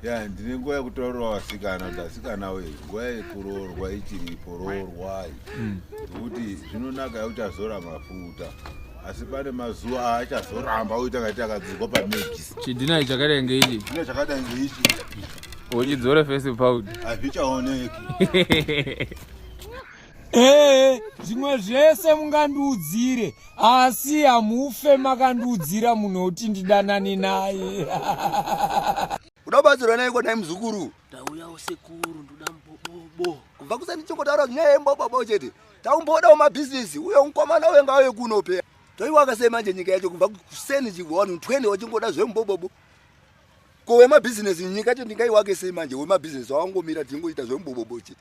ya ndine nguva yekutaurira vasikana kuti asikana we nguva yekuroorwa ichiripo roorwai mm. nokuti zvinonaka yekuti azora mafuta asi pane mazuva aachazoramba oita kati akadzirwa pamedis chidhinai chakadai ngeichi chidhinai chakadai ngeichi uchidzore fesi paud hazvichaoneki Ee, zvimwe zvese mungandiudzire asi hamufe makandiudzira munhu wekuti ndidanane naye kuda kubatsirwa naye kwadai muzukuru tauyawo sekuru ndoda mbobobo kubva kusani chingotaura nyaya yembobobo chete taumbodawo mabhizinesi uye mukomana uye ngauye kuno pea toiwaka sei manje nyika yacho kubva kuseni chigwanu 20 wachingoda zvembobobo ko wemabhizinesi nyika cho ndingaiwake sei manje wemabhizinesi wawangomira tingoita zvembobobo chete